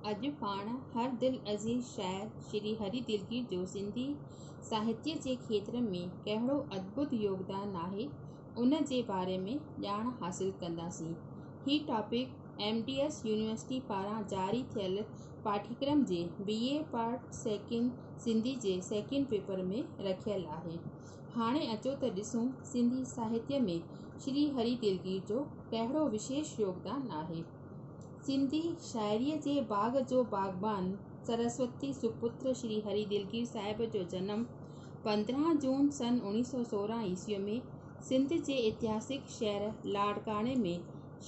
اڄ پاڻ هر دل عزيز شاعر شري هري دلگير جو سنڌي ساهتيه جي کيتر ۾ ڪهڙو ادڀت يوگدان آهي ان جي باري ۾ ڄاڻ حاصل ڪنداسين. هي topic M D S university پاران جاري ٿيل پاٺيڪرم جي B A part second Sindhi جي سيڪنڊ پيپر ۾ رکيل آهي. هاڻي اچو ته ڏسون سنڌي ساهتيه ۾ شري هري دلگير جو ڪهڙو وشيش يوگدان آهي. سنڌي شاعريء جي باغ جو باغبان سرسوتي سپتر شري هري دلگير صاحب جو جنم پندرهن جون سن اوڻيهه سؤ سورهن عيسويء ۾ سنڌ جي اتهاسڪ شهر لاڙڪاڻي ۾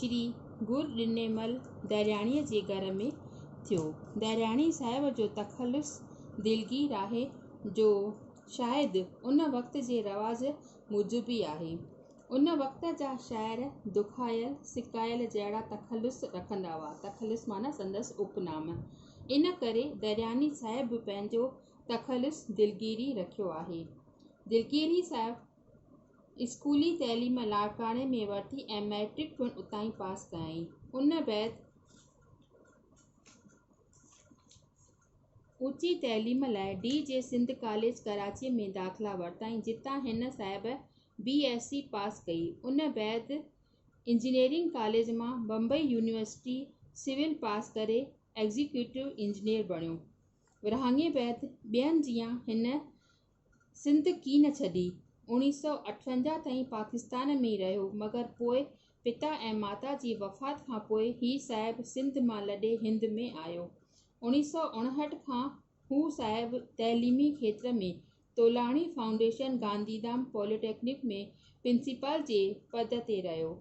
شري گر ڏنيمل درياڻيء جي گهر ۾ ٿيو. درياڻي صاحب جو تخلص دلگير آهي جو شايد ان وقت جي رواج موجب ئي آهي. ان وقت جا شاعر دکايل سڪايل جهڙا تخلص رکندا هئا، تخلص معنيٰ سندس اپ نام، ان ڪري درياني صاحب به پنهنجو تخلص دلگيري رکيو آهي. دلگيري صاحب اسڪولي تعليم لاڙڪاڻي ۾ ورتي ۽ مئٽرڪ پڻ اتان ئي پاس ڪيائين. ان بعد اوچي تعليم لاء ڊي جي سنڌ ڪاليج ڪراچيء ۾ داخلا ورتائين، جتان هن صاحب بي ايس سي پاس ڪئي ان بعد انجنيئرنگ ڪاليج مان بمبئي يونيورسٽي سول پاس ڪري ايگزيڪيوٽو انجنيئر بڻيو ورهاڱي بعد ٻين جيان هن سنڌ ڪين ڇڏي اوڻيهه سؤ اٺونجاهه تائين پاڪستان ۾ ئي رهيو مگر پوء پتا ۽ ماتا جي وفات کان پوء هي صاحب سنڌ مان لڏي هند ۾ آيو اوڻيهه سؤ اڻهٺ کان هو صاحب تعليمي کيتر ۾ Tolani foundation Gandhidham polytechnic ۾ principal جي پد تي رهيو.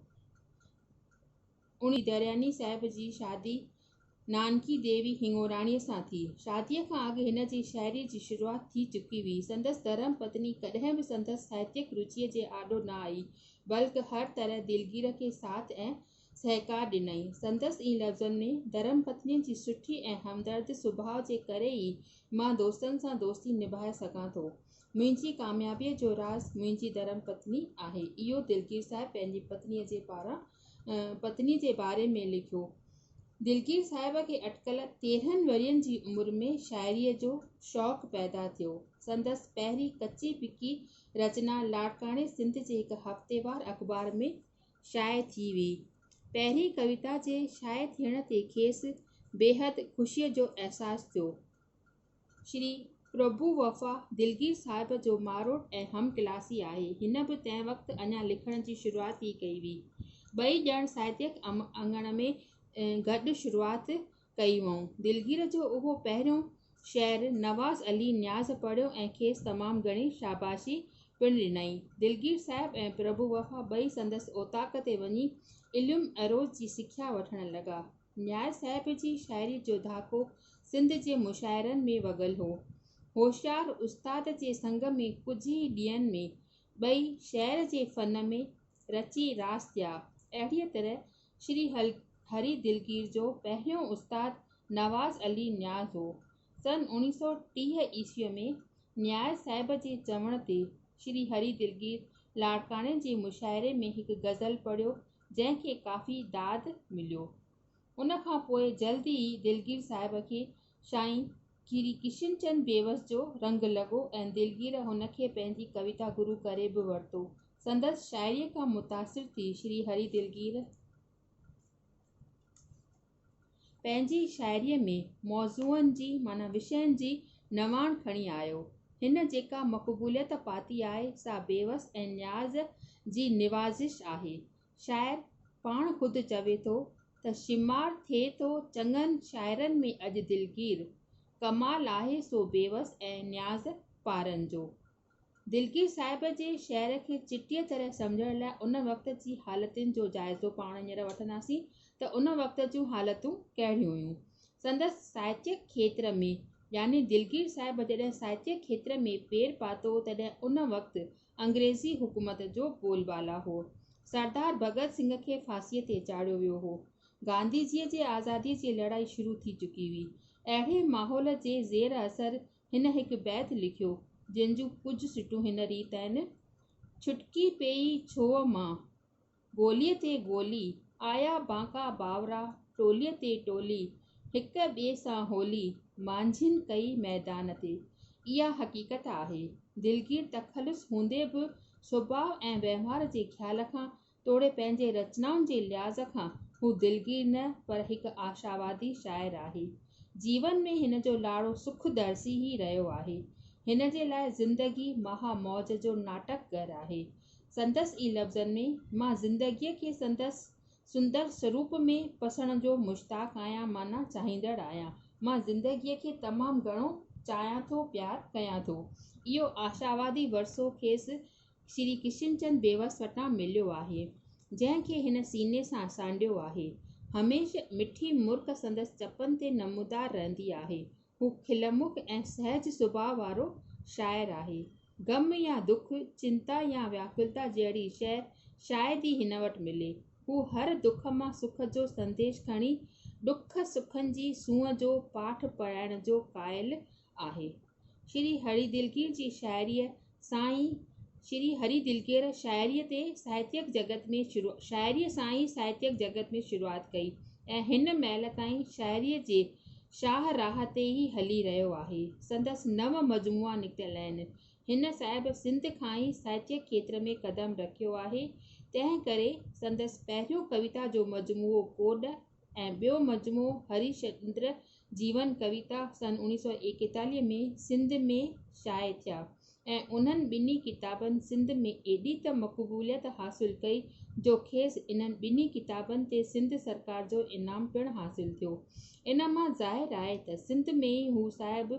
اڻ درياني صاحب جي شادي نانڪي ديوي هڱوراڻيء سان ٿي. شاديء کان اڳ هن جي شاعريء جي شروعات ٿي چڪي هئي. سندس ڌرم پتني ڪڏهن به سندس ساهتيڪ روچيء جي آڏو نه آئي، بلڪ هر طرح دلگير کي ساٿ ۽ سهڪار ڏنائين. سندس اين لفظن ۾، ڌرم پتنيء جي سٺي ۽ همدرد سڀاء جي ڪري ئي مان دوستن سان دوستي نڀائي سگهان ٿو. منهنجي ڪاميابيء جو راز منهنجي ڌرم پتني آهي. اهو دلگير صاحب پنهنجي پتنيء جي پاران پتني جي باري ۾ لکيو. دلگير صاحب کي اٽڪل تيرهن ورهين جي عمر ۾ شاعريء جو شوق پيدا ٿيو. سندس پهرين ڪچي پڪي رچنا لاڙڪاڻي سنڌ جي هڪ هفتيوار اخبار ۾ شايع ٿي ويئي. پهرين ڪويتا جي شايع ٿيڻ تي کيس بيحد خوشيء جو احساس ٿيو. شري پرڀو وفا دلگير صاحب جو ماروٽ ۽ هم ڪلاسي آهي. هن به تنهن وقت اڃا لکڻ جي شروعات ئي ڪئي هئي. ٻئي ڄڻ ساهتڪ اڱڻ ۾ گڏ شروعات ڪئي هئائون. دلگير جو اهو پهريون شعر نواز علي نياز پڙهيو ۽ کيس تمام گهڻي شاباشي پڻ ڏنائين. دلگير صاحب ۽ پرڀو وفا ٻئي سندس اوطاق تي وڃي علم عروض جي سکيا وٺڻ لڳا. نياز صاحب جي شاعري جو ڌاڪو سنڌ جي مشاعرن ۾ وڳل هو. هوشيار استاد جي سنگ ۾ ڪجهه ئي ڏينهن ۾ ٻئي شعر جي فن ۾ رچي راس ٿيا. اهڙيء طرح شري هري دلگير جو پهريون استاد نواز علي نياز هو. سن اوڻيهه سؤ ٽيهه عيسويء ۾ نياز صاحب جي چوڻ تي شري هري دلگير لاڙڪاڻي جي مشاعري ۾ هڪ غزل پڙهيو جنهن کي ڪافي داد مليو. ان کان پوء جلد ئي دلگير صاحب کي سائين ڪري ڪشن چند بيوس جو رنگ لڳو ۽ دلگير هن کي پنهنجي ڪويتا گرو ڪري به ورتو. سندس شاعريء کان متاثر ٿي شري هري دلگير پنهنجي شاعريء ۾ موضوعن جي معنيٰ وشين جي نواڻ کڻي آيو. هن جيڪا مقبوليت پاتي آهي سا بيوس ۽ نياز جي نوازش آهي. شاعر پاڻ خود چوي ٿو ته شمار ٿئي ٿو چڱن شاعرن ۾ اڄ دلگير، ڪمال آهي سو بيوس ۽ نياز پارن جو. دلگير صاحب جي شعر کي چٽيء طرح سمجهڻ لاء ان وقت جي حالتن جو جائزو پاڻ هينئر وٺنداسين ته ان وقت جون حالتون ڪهڙيون هيون. سندس ساهتيڪ کيتر ۾، يعني دلگير صاحب جڏهن ساهتيڪ کيتر ۾ پير پاتو تڏهن ان وقت انگريزي حڪومت جو بول بالا هو. سردار ڀڳت سنگهه کي ڦاسيء تي چاڙهيو ويو هو. گانڌيجيء جي آزاديء جي لڙائي شروع ٿي چڪي هئي. اهڙي ماحول جي زير اثر هن هڪ بيت لکيو، جنهن جون ڪجهه سٽون هن ريت آهن، ڇٽڪي پيئي ڇوهه مان، گوليء تي گولي، آيا بانڪا بانورا ٽوليء تي ٽولي، هڪ ٻئي سان هولي، مانجهين ڪئي ميدان تي. اها حقيقت آهي. دلگير تخلص هوندي به سڀاء ۽ وهنوار جي خيال کان توڙي پنهنجي رچنائن جي لحاظ کان هو دلگير نه پر هڪ آشاوادي شاعر آهي. جيون ۾ هن جو لاڙو سک درسي ئي رهيو آهي. هن جي لاء زندگي مها موج جو ناٽڪ گهر آهي. سندس ئي لفظن ۾، مان زندگيء کي سندس سندر سروپ ۾ پسڻ جو مشتاق آهيان معنيٰ چاهيندڙ آهيان. مان زندگيء کي تمام گهڻو چاهيان ٿو، پيار ڪيان ٿو. اهو آشاوادي ورسو کيس شري ڪشن چند بيوس وٽان مليو آهي، جنهن کي هن سيني سان سانڍيو آهي. هميشھ مٺي مرڪ سندس چپن تي نمودار رهندي آهي. هو کلمک ۽ سهج سڀاء وارو شاعر آهي. غم يا دک، چنتا يا وياڪلتا جهڙي شيء شايد ئي هن وٽ ملي. هو هر دک مان سک جو سنديش کڻي ڏک سکن جي سونهن جو پاٺ پڙهائڻ جو قائل آهي. شري هري دلگير جي شاعريء سائين شري هري دلڪير شاعريء تي ساهتيڪ جڳت ۾ شروع شاعريء سان ئي ساهتيڪ جڳت ۾ شروعات ڪئي ۽ هن مهل تائين شاعريء جي شاهه راهه تي ئي هلي رهيو آهي. سندس نو مجموعا نڪتل آهن. هن صاحب سنڌ کان ئي ساهتيڪ کيتر ۾ قدم رکيو آهي، تنهن ڪري سندس پهريون ڪويتا جو مجموعو ڪوڏ، ۽ ٻيو مجموعو هري شندر جيون ڪويتا سن اوڻيھ سؤ ايڪيتاليھ ۾ سنڌ ۾ شايع ٿيا ۽ انهن ٻنهي ڪتابن سنڌ ۾ ايڏي ته مقبوليت حاصل ڪئي جو کيس انهن ٻنهي ڪتابن تي سنڌ سرڪار جو انعام پڻ حاصل ٿيو ان مان ظاهر آهي ته سنڌ ۾ ئي هو صاحب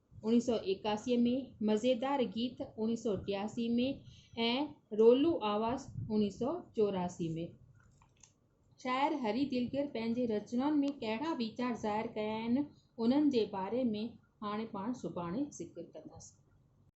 اوڻيھ سؤ ايڪاسي ۾ مزيدار گيت اوڻيھ سؤ ٽياسي ۾ ۽ رولو آواز اوڻيھ سؤ چوراسي ۾ شاعر ھري دلگر پنھنجي رچنائن ۾ ڪھڙا ويچار ظاھر ڪيا آھن انھن جي باري ۾ ھاڻي پاڻ سڀاڻي ذڪر ڪنداسين